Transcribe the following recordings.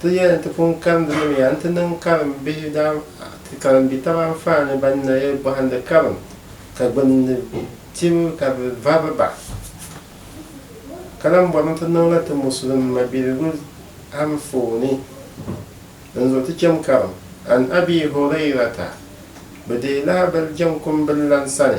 Ti yɛli nti pun karim di ni mi a nti niŋ karim bihi daa ti karim bi taba anfaani ban naya bɔhindi karim ka gbunni tibu ka bɛ vɔbi ba. Ka lan bɔrimi ti niŋ la ti Musulim mabiligu anfooni din zuɣu ti chem karim. An Abii Hurayrata, Bɛ deei lahabali jɛŋ kumbil lan sani,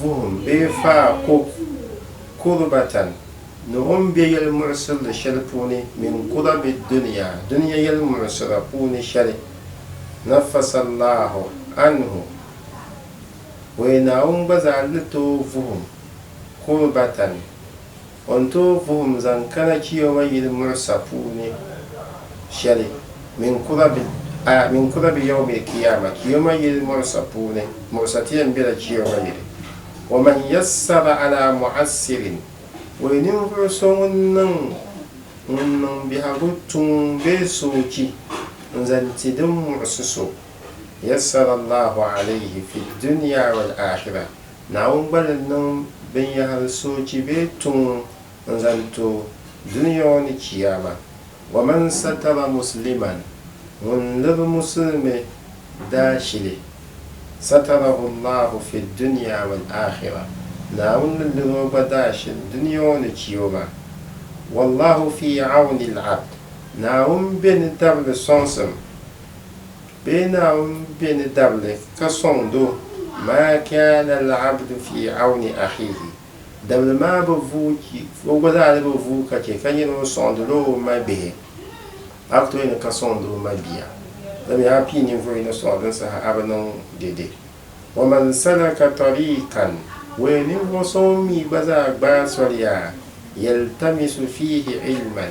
vuhim bee faa ko kurbatan ni o ni be yɛlimuɣisirili shɛli puuni min kurabi dunia, dunia yɛlimuɣisira puuni shɛli, nafasallahu anhu, o ya Naawuni gba zaa ni tooi vuhim kurbatan. O ni tooi vuhim zaŋ kana Chiyawa yili muɣisa puuni shɛli mini kura bi, a, mini kura bi Yawmil Kiyaama, Chiyoma yili muɣisa puuni, muɣisa ti yɛn bela Chiyoma yili. Wa man yassara alaa mu'assirin, o yi ninvuɣu so ŋun niŋ, ŋun niŋ biɛhigu tuŋ bee soochi n-zaŋ ti din muɣisi so, yassara Allahu alayhi fi dunia wal akhirah, Naawuni gba ni niŋ binyahiri soochi bee tuŋ n-zaŋ ti o dunia ŋɔ ni Chiyaama. Waman satara musliman, ŋun liri musulimi daashili, satarahu Allahu fi dunia wal akhira, Naawuni ni liri o gba daashili dunia ŋɔ ni Chiyooma. Wallahu fi awni al-abd, Naawuni be ni tabili sɔŋsim Bee Naawuni be ni dabili ka sɔŋ doo? Maa kaana al-abdu fi awni axiihi, dabili maa bi vuui chi, o gba zaa di bi vuui ka che ka nyɛ ŋun sɔŋdi la o mabihi. A ku tooi ni ka sɔŋdi o mabia, dama yaa pii ninvuɣu yino sɔŋ din saha a bi niŋ dede. Wa man salaka tariikan, wuhi ninvuɣu so ŋun mi gba zaa gbaai soli yaa, yaltamisu fiihi ilman,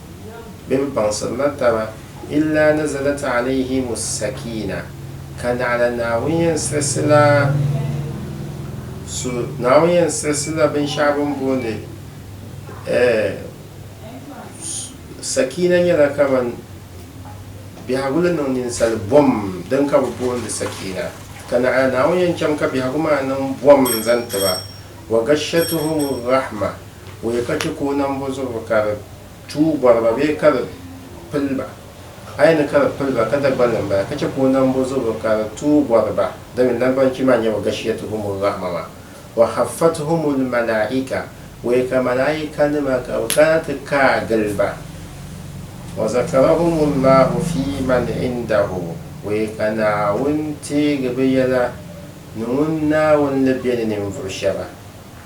bɛ bi baŋsirila taba, illaa nazalat alayhim as-sakiina, ka naɣila Naawuni yɛn siɣisila so, Naawuni yɛn siɣisila binshɛɣu bɛ ni booni eh, sakiina nyɛla kaman biɛhigu ni niŋ ninsali bom din ka bɛ booni sakiina, ka naɣila Naawuni yɛn chaŋ ka biɛhigu maa niŋ bom n-zaŋ ti ba, wa gashatuhum ar-rahma, Bɔya ka chɛ ka o nam bɔ zuɣu ka di tuui bɔri ba bee ka di pili ba? A yɛn ni ka di pili ba, ka Dagbani ni m-bala, ka chɛ ka o nam bɔ zuɣu ka di tuui bɔri ba, domin Naribanchi maa nyɛ wa gashiyatuhumur rahma maa, wa haffatuhumul malaika, bɔya ka malaikanima ka bɛ kana ti kaai gili ba, wa zakarahumullahu fi man indahu, bɔya ka Naawuni teegi bɛ yɛla ni ŋun Naawuni ni be ni ninvuɣ shɛba.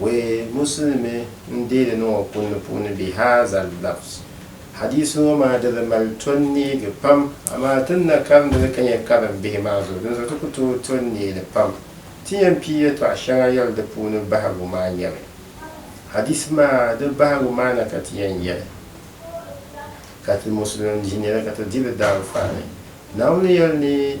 Wee Muslimi n-deeli niŋ o kunni puuni bi haadha al-lafz. Hadiisi ŋɔ maa di bi mali tɔnneegi pam, amaa ti ni na karimdi li ka nya karim bihi maa zuɣu, dinzuɣu ti ku tooi to n-neei li pam. Ti yɛn pii yɛltɔɣa shɛŋa yɛli di puuni bahigu maa nyɛmi, Hadiisi maa di bahigu maa na ka ti yɛn yɛli, Ka ti Muslimi bihi nya li ka ti di li daanfaani. Naawuni yɛli ni.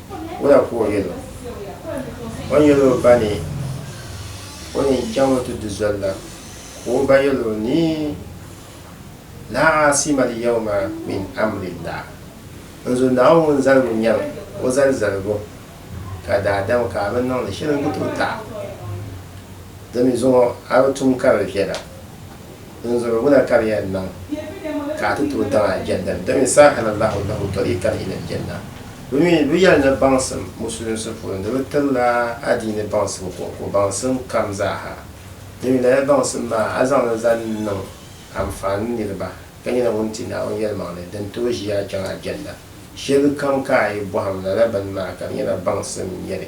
Wula ka o yɛl o? O ni yɛl o ba ni o ni chaŋ o ti di zoli la, ka o ba yɛl o ni, Laa aasima al-yawma min amrillah, N zo Naawuni zaligu nyɛm o zali zaligu, ka daadam ka a bi niŋdi shɛli n-ku ti o taɣi. Di mi zuŋɔ a bi tum karili viɛla. Dinzuɣu ŋuna ka di yɛn niŋ ka a ti tooi daŋ Aljanna ni, domin sahala Allahu lahum tariqan ila Aljanna. Bɛ mi lu yɛli ni baŋsim Musulinsi puuni ni bɛ tirila adiini baŋsim kɔŋko baŋsim kam zaa ha, domin lala baŋsim maa a zaŋ li zaŋ niŋ anfaani niriba ka nyɛla ŋun ti Naawuni yɛlimaŋli din tooi ʒi a chaŋ Aljanna. Shɛlikam ka a yi bɔhim lala bini maa ka di nyɛla baŋsim n-nyɛ li.